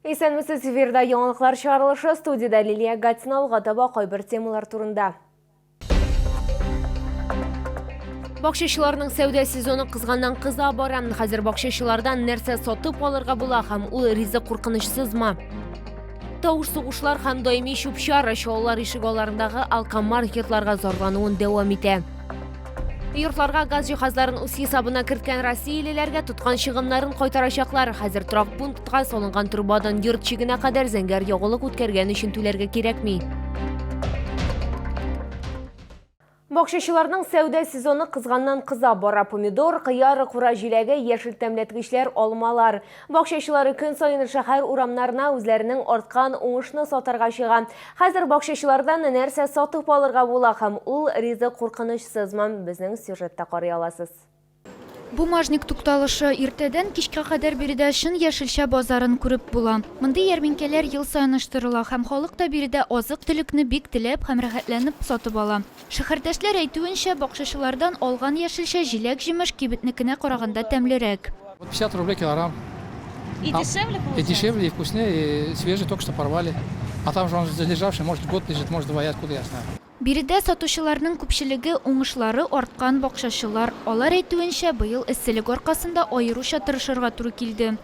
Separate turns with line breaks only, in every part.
Исәнмесез, эфирда яңалыклар чыгарылышы, студиядә Лилия Гатина алга таба кайбер темалар турында. Бакчачыларның сәүдә сезоны кызганнан кыза бара. Хәзер бакчачылардан нәрсә сатып алырга була һәм ул ризык куркынычсызмы? Тавыш сугышлар һәм даими чүп-чар чалалар ишегалларындагы алкомаркетларга зарлануын дәвам итә. Йортларга газ җиһазларын үз хисабына керткән россиялеләргә тоткан чыгымнарын кайтарачаклар. Хәзер торак пунктка салынган трубадан йорт чигенә кадәр зәңгәр ягулык үткәргән өчен түләргә кирәкми. Бакчачыларның сәүдә сезоны кызганнан кыза бара. Помидор, кыяр, кура җиләге, яшел тәмләткечләр, алмалар. Бакчачылары көн саен шәһәр урамнарына үзләренең арткан уңышны сатарга чыга. Хәзер бакчачылардан нәрсә сатып алырга була һәм ул ризык куркынычсызмы, безнең сюжетта карый аласыз. Бумажник
тукталышы. Иртәдән кичкә кадәр биредә чын яшелчә базарын күреп була. Мондый ярминкәләр ел саен оештырыла һәм халык та биредә азык-төлекне бик теләп һәм рәхәтләнеп сатып ала. Шәһәрдәшләр әйтүенчә, бакчачылардан алган яшелчә, җиләк-җимеш кибетнекенә караганда тәмлерәк. Вот 50 рублей
килограмм. И
дешевле получается? И дешевле, и вкуснее, и
свежий, только что порвали. А там же он залежавший, может год лежит, может два, я откуда я знаю. Биредә сатучыларның
күпчелеге, уңышлары арткан бакчачылар. Алар әйтүенчә, быел эсселек аркасында аеруча тырышырга туры килде.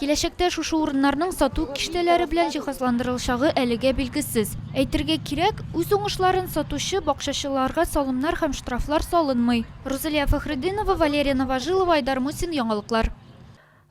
Киләчәктә шушы урыннарның сату киштәләре белән җиһазландырылачагы әлегә билгесез. Әйтергә кирәк, үз уңышларын сатучы бакчачыларга салымнар һәм штрафлар салынмый. Рузалия Фәхретдинова, Валерия Новожилова, Айдар Мусин, Яңалыклар.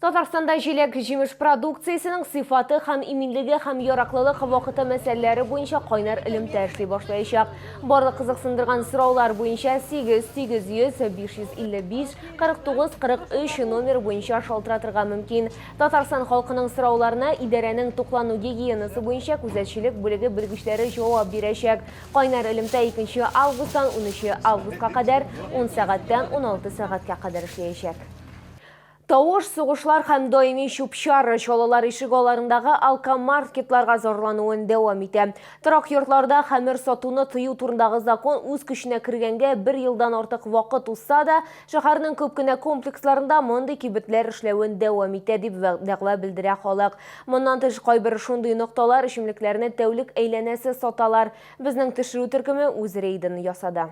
Татарстанда
җиләк-җимеш продукциясенең сыйфаты һәм иминлеге һәм яраклылык вакыты мәсьәләләре буенча кайнар элемтә эшли башлаячак. Барлык кызыксындырган сораулар буенча 8 800 555 49 43 номер буенча шалтыратырга мөмкин. Татарстан халкының сорауларына идарәнең туклану гигиенасы буенча күзәтчелек бүлеге белгечләре җавап бирәчәк. Кайнар элемтә 2 августтан 13 августка кадәр 10 сәгатьтән 16 сәгатькә кадәр эшләячәк. Тавыш, сугышлар һәм даими чүп-чар чалалар ишегалларындагы алкомаркетларга зарлануын дәвам итә. Торак йортларда хәмер сатуны тыю турындагы закон үз көченә кергәнгә бер елдан артык вакыт узса да, шәһәрнең күп кенә комплексларында мондый кибетләр эшләвен дәвам итә, дип дәгъва белдерә халык. Моннан тыш, кайбер шундый нокталар эчемлекләрне тәүлек әйләнәсе саталар. Безнең төшерү төркеме үз рейдын ясады.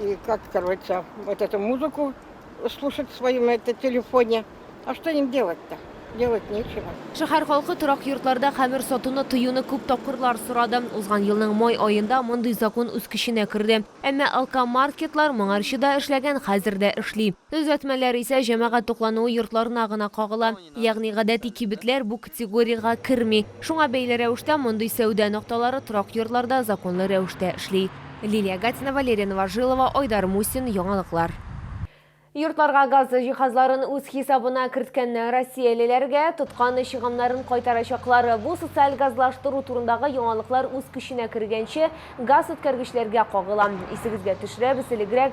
И как, короче, вот эту музыку слушать в своем это, телефоне. А что им делать-то? Делать нечего. Шәһәр халкы торак
йортларда хәмер сатуны тыюны күп тапкырлар сорады. Узган елның май аенда мондый закон үз көченә керде. Әмма алкомаркетлар моңарчы да эшләгән, хәзер дә эшли. Төзәтмәләр исә җәмәгать туклануы йортларына гына кагыла. Ягъни гадәти кибетләр бу категориягә керми. Шуңа бәйле рәвештә мондый сәүдә нокталары торак йортларда законлы рәвештә эшли. Лилия Гатина, Валерия Новожилова, Айдар Мусин, Яңалыклар. Йортларга газ җиһазларын үз хисабына керткән россиялеләргә тоткан чыгымнарын кайтарачаклар. Бу социаль газлаштыру турындагы яңалыклар үз көченә кергәнче газ үткәргечләргә кагыла. Исегезгә төшерәбез, элегрәк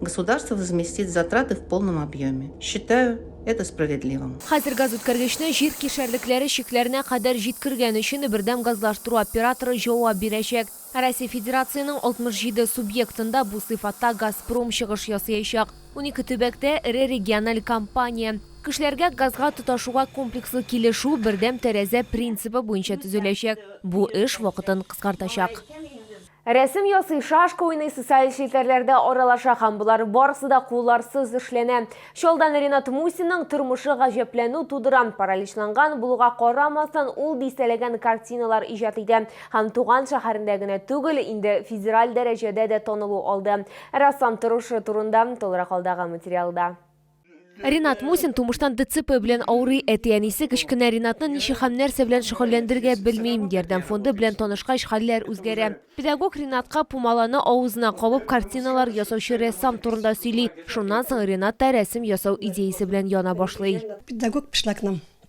Государство возместит затраты в полном объеме. Считаю это справедливым. Хәзер газүткәргечне
җир кишәрлекләре чикләренә кадәр җиткергән өчен Бөрдәм газлаштыру операторы җавап бирәчәк. Ә Россия Федерацияның 67 субъектында бу сыйфатта Газпром чыгыш ясыячак. Унике төбәктә, эре региональ компания. Кешеләргә газга тоташуга комплекслы килешү бердәм тәрәзә принцибы буенча төзеләчәк. Бу эш вакытын кыскартачак. Рәсем ясый, шашка уйный, социаль челтәрләрдә аралаша һәм болар барысы да кулларсыз эшләнә. Чалдан Ренат Мусинның тормышы гаҗәпләнү тудыра. Параличланган булуга карамастан, ул дистәләгән картиналар иҗат итә һәм туган шәһәрендә генә түгел, инде федераль дәрәҗәдә дә танылу алды. Рәссам торышы турында тулырак алдагы материалда. Ринат Мусин тумыштан ДЦП белән авырый. Әти-әнисе кечкенә Ринатны ничек һәм нәрсә белән шөгыльләндерергә белмим. Ярдәм фонды белән танышкач, хәлләр үзгәрә. Педагог Ринатка пумаланы авызына кабып картиналар ясаучы рәссам турында сөйли. Шуннан соң Ринат та рәсем ясау идеясе белән яна башлый. Педагог Пышлакның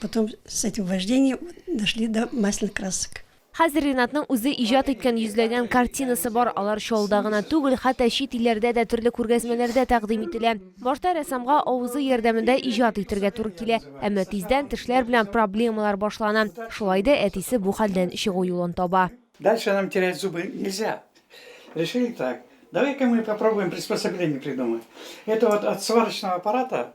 Потом с этим вождением дошли до масляных красок. Хәзер Ринатның
үзе иҗат иткән йөзләгән картинасы бар. Алар Чаллыда гына түгел, хәтта чит илләрдә дә төрле күргәзмәләрдә тәкъдим ителә. Башта рәссамга авызы ярдәмендә иҗат итергә туры килә, әмма тиздән тешләр белән проблемалар башлана. Шулай да әтисе бу хәлдән чыгу юлын таба. Дальше нам терять
зубы нельзя. Решили так. Давай-ка мы попробуем приспособление придумать. Это вот от сварочного аппарата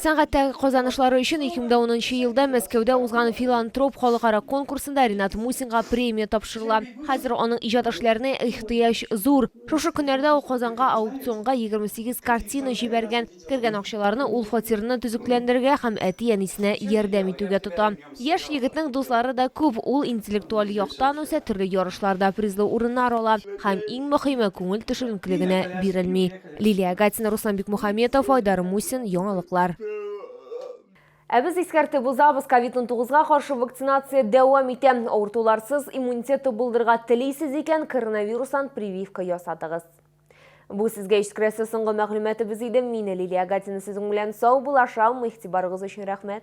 Сәнгатьтәге
казанышлары өчен 2010 елда Мәскәүдә узган филантроп халыкара конкурсында Ренат Мусинга премия тапшырыла. Хәзер аның иҗат эшләренә ихтыяҗ зур. Шушы көннәрдә ул Казанга аукционга 28 картина җибәргән. Кергән акчаларны ул фатирны төзекләндерергә һәм әти-әнисенә ярдәм итүгә тота. Яшь егетнең дуслары да күп. Ул интеллектуаль яктан үсә, төрле ярышларда призлы урыннар ала һәм, иң мөһиме, күңел төшенкелегенә бирелми. Лилия Агатина, Руслан Бикмухаметов, Айдар Мусин, Яңалыклар. Ә без искәртеп узабыз, COVID-19-га каршы вакцинация дәвам итә. Авыртуларсыз иммунитет тубылдырга телисез икән, коронавирустан прививка ясатыгыз. Бу сезгә искрәсе соңгы мәгълүматыбыз иде. Мин Лилия Гатина сезнең белән сау булашам. Игътибарыгыз өчен рәхмәт.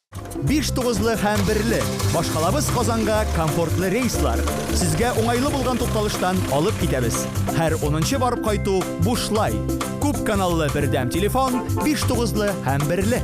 Биш
тугызлы һәм берле. Башкалабыз Казанга комфортлы рейслар. Сезгә уңайлы булган тукталыштан алып китәбез. Һәр унынчы барып кайту бушлай. Күп каналлы бердәм телефон, биш тугызлы һәм берле.